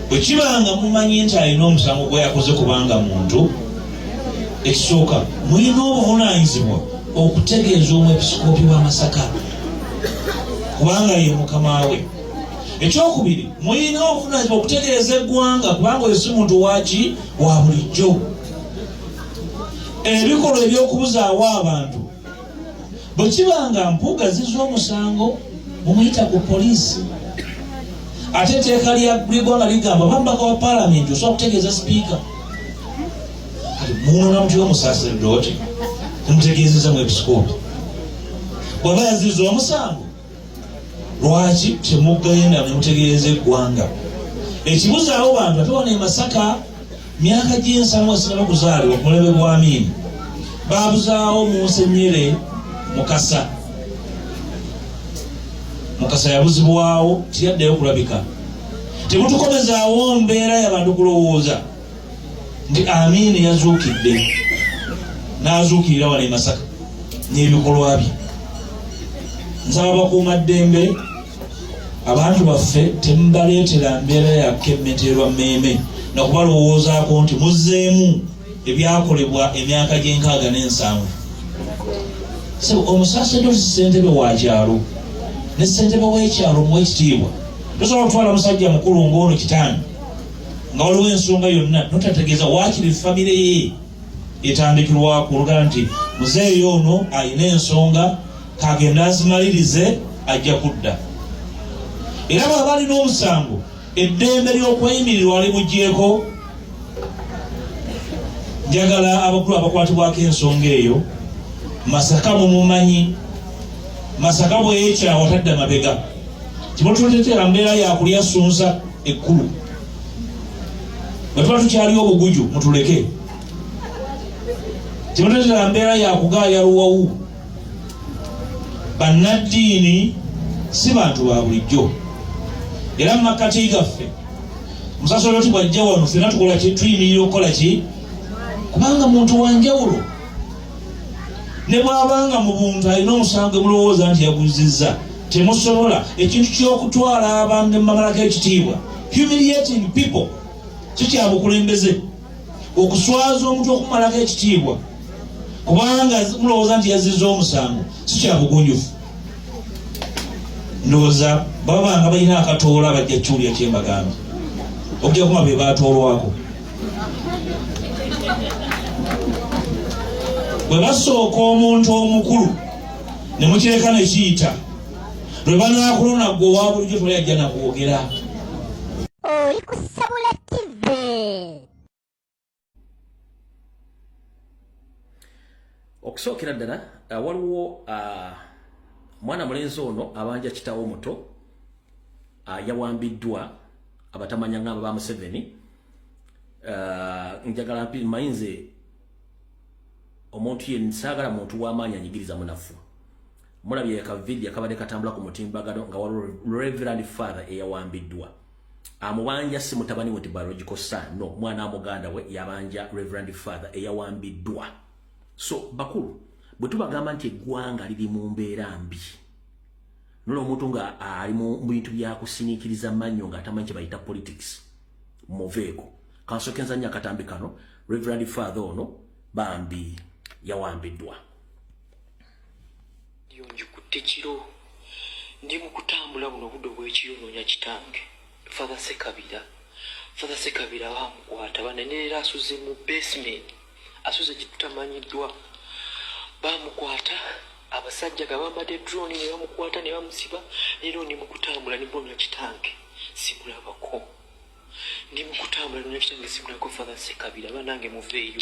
bwe kiba nga mumanyi nti alina omusango gwe yakoze kubanga muntu ekisooka mulina obuvunaanyizibwa okutegeeza omwepisikoopi wa masaka kubanga ye mukama we ekyokubiri mulina obuvunaanyizibwa okutegeeza eggwanga kubanga oyo si muntu waki wa bulijjo ebikolwa eby'okubuzaawo abantu bwe kiba nga mpuuga zizza omusango mumuyita ku poliisi ate etteeka lya gwanga ligamba bambaka wa palamenti osobola kutegeeza sipiika munoona mutya omusaserdooti mutegeezeza mu ebisikooti bwaba yaziza omusango lwaki temugenda nemutegeeza eggwanga ekibuzaawo bantu ate wano emasaka myaka gy'ensamu esinaba kuzaalibwa ku mulebe gwa miini babuzaawo munsenyere mukasa mukasa yabuzibwawo tiyaddeyo kulabika temutukomezaawo mbeera yabantu kulowooza nti amiina yazuukidde n'azuukirira wano e masaka n'ebikolwa bye nsaba bakuuma ddembe abantu baffe temubaleetera mbeera yakka emmeterwa mmeeme nakubalowoozaako nti muzzeemu ebyakolebwa emyaka gy'enkaaga n'ensanvu omusasedosi ssentebe wa kyalo ne ssentebe w'ekyalo mu ekitiibwa tosobola kutwala musajja mukulu ng'ono kitaani nga waliwo ensonga yonna notategeeza waakiri famire ye etandikirwaku olugala nti muzeeyi ono alina ensonga kagenda azimalirize ajja kudda era bwaba alina omusango eddembe ly'okweyimirirwa alimugyeko njagala abakulu abakwatibwako ensonga eyo masaka mumumanyi masaka bweyekyawa tadda mabega kiba tubateteera mbeera yakulya sunsa ekkulu bwetuba tukyaliwo obuguju mutuleke kiba tubateteera mbeera yakugaaya luwawu bannaddiini si bantu ba bulijjo era mu makkati gaffe musasoloti bwajja wano fena tukola ki tuyimirira okukola ki kubanga muntu wanjawulo ne bwabanga mu buntu alina omusango mulowooza nti yaguzizza temusobola ekintu ky'okutwala abantu ne mubamalako ekitiibwa humiliating people kikyabukulembeze okuswaza omuntu okumalako ekitiibwa kubanga mulowooza nti yazizza omusango sikyabugunjufu ndowooza babanga balina akatoola bajja kiwulira kyembagambye okujja kuma be batoolwako bwe basooka omuntu omukulu ne mukireka ne kiyita lwe banaakulona gwe owa bulijjo toli ajja nakwogera oli ku sabula tive okusookera ddala uh, waliwo uh, mwana mulenzi ono abanja kitawo omuto uh, yawambiddwa abatamanya ngamba ba Museveni uh, njagala mpi mayinze omuntu ye nsagala muntu w'amaanyi anyigiriza munafu mulabye ka video kabadde katambula ku mutimbagano nga waliwo reverend father eyawambiddwa amubanja si mutabani we biological son no mwana wa muganda we yabanja reverend father eyawambiddwa so bakulu bwe tubagamba nti eggwanga liri mu mbeera mbi nola omuntu nga ali mu bintu byakusiniikiriza mannyo nga atamanyi kye bayita politics muveeko kansokenza nnyo akatambi kano reverend father ono bambi yawambiddwa yonjikutte kiro ndi mu kutambula buno budde obw'ekiro noonya kitange Father Sekabira, Father Sekabira bamukwata banenera asuze mu basement, asuze kitutamanyiddwa. Bamukwata abasajja nga bambadde drone ne bamukwata ne bamusiba, leero ndi mu kutambula ne mponya kitange sikulabako. Ndi mu kutambula ne kitange sikulabako Father Sekabira, banange muveeyo.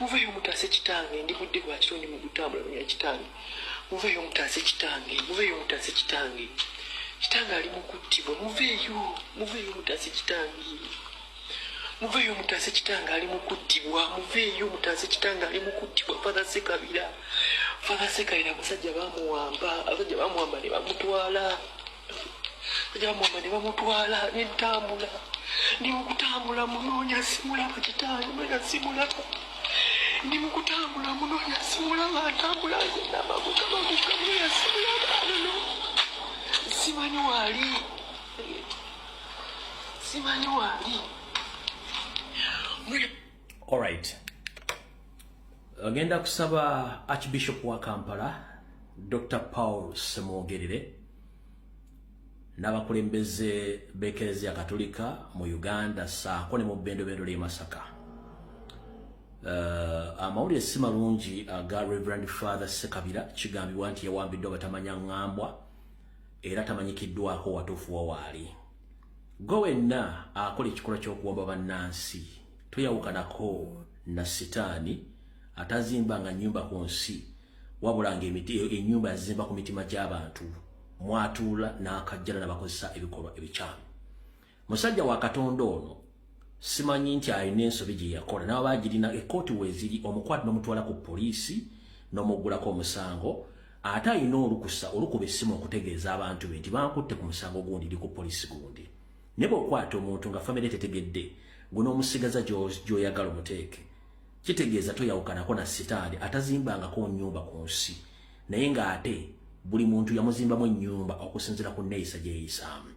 muveyo mutaase kitange ndi budde bwa kiro ndi mugutambulanya kitange muveyo mutaase kitange muveyo mutaase kitange kitange ali mukuttibwa muveyo muveyo mutaase kitange muveyo mutaase kitange ali mukuttibwa muveyo mutaase kitange ali mukuttibwa fadha sekabira fadha sekabira abasajja bamuwamba abasajja bamuwamba ne bamutwala yamwamba ne bamutwala nentambula ndi mukutambula munoonya simulaba kitaani mwena simulaba ndi mukutambula munoonya simulaba atambula namagukabagukamuya simulaba anono simanyi waali simanyi waali Alright. Agenda kusaba Archbishop wa Kampala Dr. Paul Semwogerere n'abakulembeze b'ekereziya Katolika mu Uganda saako ne mu bbendobendo ly'e Masaka. Uh, amawulire si malungi aga Reverend Father Sekabira kigambibwa nti yawambiddwa batamanya ngambwa era tamanyikiddwako watuufu wa waali. gwe wenna akola ekikolwa ky'okuwamba bannansi toyawukanako na sitaani atazimba nga nyumba ku nsi wabula nga enyumba yazimba ku mitima gy'abantu mwatuula n'akajjala nabakozesa ebikolwa ebikyamu musajja wa katonda ono simanyi nti alina ensobi gye yakola nabo bagirina ekkooti weziri omukwati nomutwala ku poliisi nomuggulako omusango ate alina olukusa olukuba essimu okutegeeza abantu be nti bankutte ku musango gundi ndi ku poliisi gundi naye bweokwata omuntu nga famire tetegedde gwe n'omusigaza gyoyagala omuteeke kitegeeza toyawukanako na sitaani atazimbangako nyumba ku nsi naye ng'ate buli muntu yamuzimbamu ennyumba okusinzira ku nneeyisa gyeyisaamu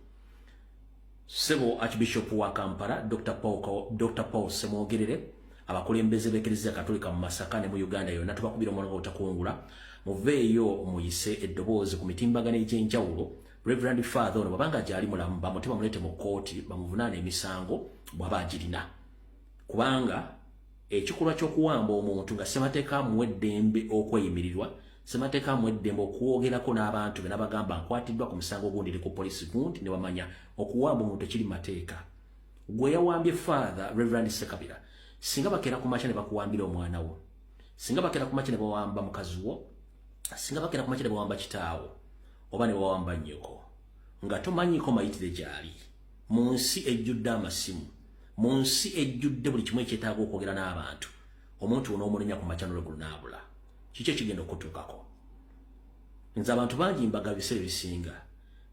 Sebo Archbishop wa Kampala Dr. Paul, Dr. Paul Semwogerere abakulembeze b'Eklezia Katolika mu Masaka ne mu Uganda yonna tubakubira omulanga otakungula muveeyo muyise eddoboozi ku mitimbagano egy'enjawulo Reverend Father ono babanga gyali mulamu bamutima mulete mu kkooti bamuvunaane emisango bwaba agirina kubanga ekikolwa ky'okuwamba omuntu nga ssemateeka amuwa eddembe okweyimirirwa ssemateeka amuwa eddembe okwogerako n'abantu be nabagamba nkwatiddwa ku musango gundi eri ku poliisi gundi ne bamanya okuwamba omuntu ekiri mateeka gwe yawambye faatha reverand sekabira singa bakeera ku makya ne bakuwambira omwana wo singa bakeera ku makya ne bawamba mukazi wo singa bakeera ku makya ne bawamba kitaawo oba ne bawamba nnyoko nga tomanyiko mayitire gyali mu nsi ejjudde amasimu mu nsi ejjudde buli kimu ekyetaaga okwogera n'abantu omuntu ono omunenya ku macanolo gunaabula kiki ekigenda okutuukako nze abantu bangi mbaga biseera ebisinga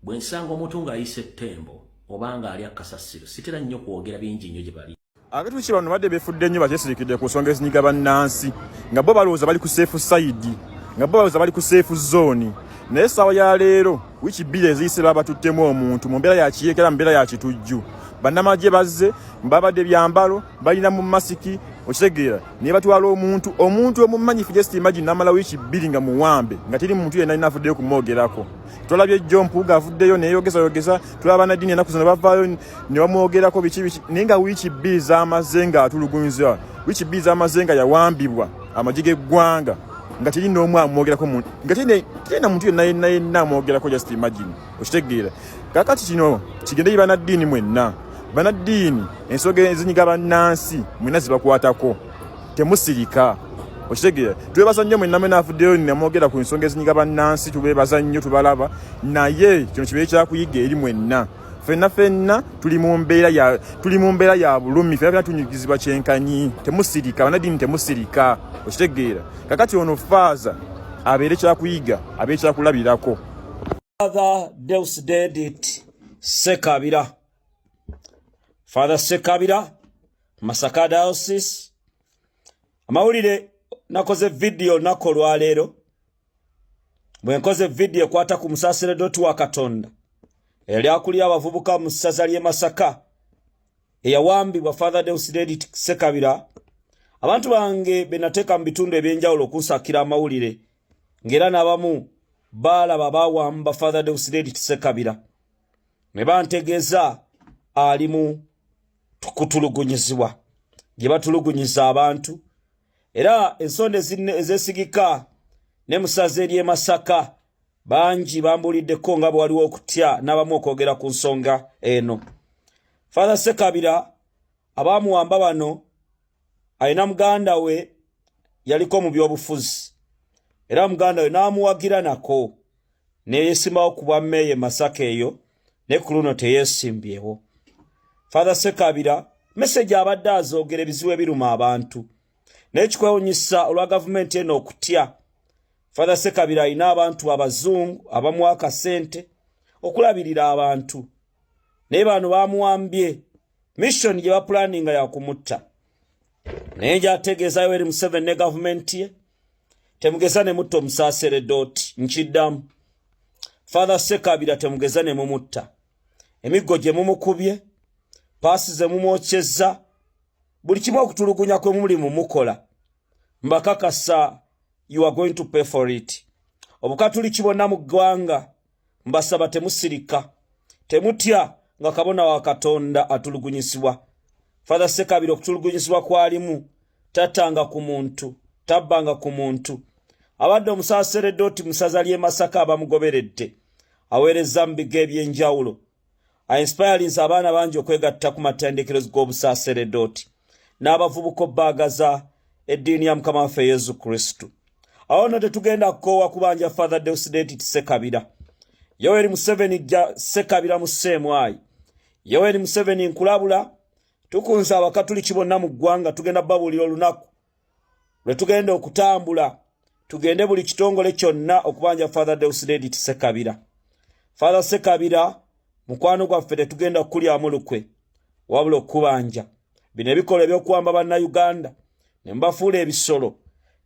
bwe nsanga omuntu ng'ayisa ettembo oba ng'ali akasasiro sitera nnyo kwogera bingi nnyo gye bali Abatuuki bano badde befudde nnyo bakyesirikidde ku nsonga ezinyiga bannansi nga bo balowooza bali ku seefu sayidi nga bo balowooza bali ku seefu zooni naye essaawa ya leero wiiki bbiri eziyise babatuttemu omuntu mu mbeera ya kiyeekera mu mbeera ya kitujju bannamagye bazze babadde byambalo balina mu masiki okitegeera naye batwala omuntu omuntu omumanyifu just imagine namala wiiki bbiri nga muwambe nga teri muntu yenna alina avuddeyo kumwogerako twalabye jjo mpuuga avuddeyo neyeyogeza yogeza tulaba banaddiini enaku zino bavaayo ne bamwogerako biki biki naye nga wiiki bbiri z'amaze nga atulugunyizibwa wiiki bbiri z'amaze nga yawambibwa amagye g'eggwanga nga teri n'omu amwogerako nga teri na muntu yenna yenna yenna amwogerako just imagine okitegeera kakati kino kigende yi banaddiini mwenna banaddiini ensoga ezinyiga bannansi mwenna zibakwatako temusirika okitegeera twebaza nnyo mwenna mwena avuddeyo namwogera ku nsonga ezinyiga bannansi tubebaza nnyo tubalaba naye kino kibeere kyakuyiga eri mwenna fenna fenna tuli mu mbeera ya tuli mu mbeera ya bulumi fenna fenna tunyigizibwa kyenkanyi temusirika banadini temusirika okitegeera kakati ono faaza abeere kyakuyiga abeere kyakulabirako father deus dedit sekabira father sekabira masaka diocese amawulire nakoze vidiyo nako olwaleero bwe nkoze vidiyo ekwata ku musaasira doti wa katonda eyali akulira abavubuka mu ssaza ly'e masaka eyawambibwa father deusidedi sekabira abantu bange be nateeka mu bitundu eby'enjawulo okunsakira amawulire ng'era n'abamu baalaba baawamba father deusidedi sekabira ne bantegeeza alimu kutulugunyizibwa gye batulugunyiza abantu era ensonda ezesigika ne musaza ery'e Masaka bangi bambuuliddeko nga bwe waliwo okutya n'abamu okwogera ku nsonga eno. Father Sekabira abaamuwamba bano alina muganda we yaliko mu byobufuzi era muganda we n'amuwagira nako. neyesimbawo ku bwa meeya e masaka eyo ne ku luno teyesimbyewo father sekabira meseji abadde azoogera ebizibu ebiruma abantu naye kikwewunyisa olwa gavumenti eno okutya father sekabira alina abantu abazungu abamuwa akasente okulabirira abantu naye bano bamuwambye missioni gye bapulaninga yakumutta naye njategeezayo eri museveni ne gavumenti ye temugeza ne mutta omusaasere dooti nkiddamu father sekabira temugeza ne mumutta emiggo gye mumukubye paasi ze mumwokyezza buli kimu okutulugunya kwe muli mumukola mbakakasa you are going to pay for it obukatuliki bonna mu ggwanga mbasaba temusirika temutya nga kabona wa katonda atulugunyisibwa father sekabira okutulugunyisibwa kwalimu tatanga ku muntu tabbanga ku muntu abadde omusaseredoti musaza ly'emasaka abamugoberedde aweereza mu bigo eby'enjawulo ainspirinze abaana bangi okwegatta ku matendekero g'obusaaseredooti n'abavubuka obbaagaza eddiini ya mukama waffe yesu kristu awo no tetugenda kukoowa kubanja father deusdeti tisekabira yoweri museveni jja sekabira mu seemwayi yoweri museveni nkulabula tukunze abakatuliki bonna mu ggwanga tugenda babuulira olunaku lwe tugenda okutambula tugende buli kitongole kyonna okubanja father deusdedit sekabira father sekabira mukwano gwaffe tetugenda kukulyamu lukwe wabula okukubanja bino ebikolwa ebyokuwamba bannayuganda ne mubafuula ebisolo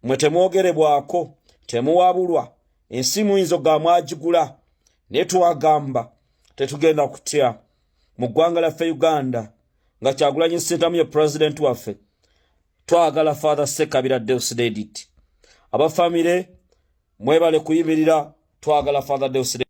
mwe temwogerebwako temuwabulwa ensi muyinza ogamwagigula naye twagamba tetugenda kutya mu ggwanga lyaffe uganda nga kyagulanyi sentamu ye pulezidenti waffe twagala father sekabira deus dedit abafamire mwebale kuyimirira twagala father deus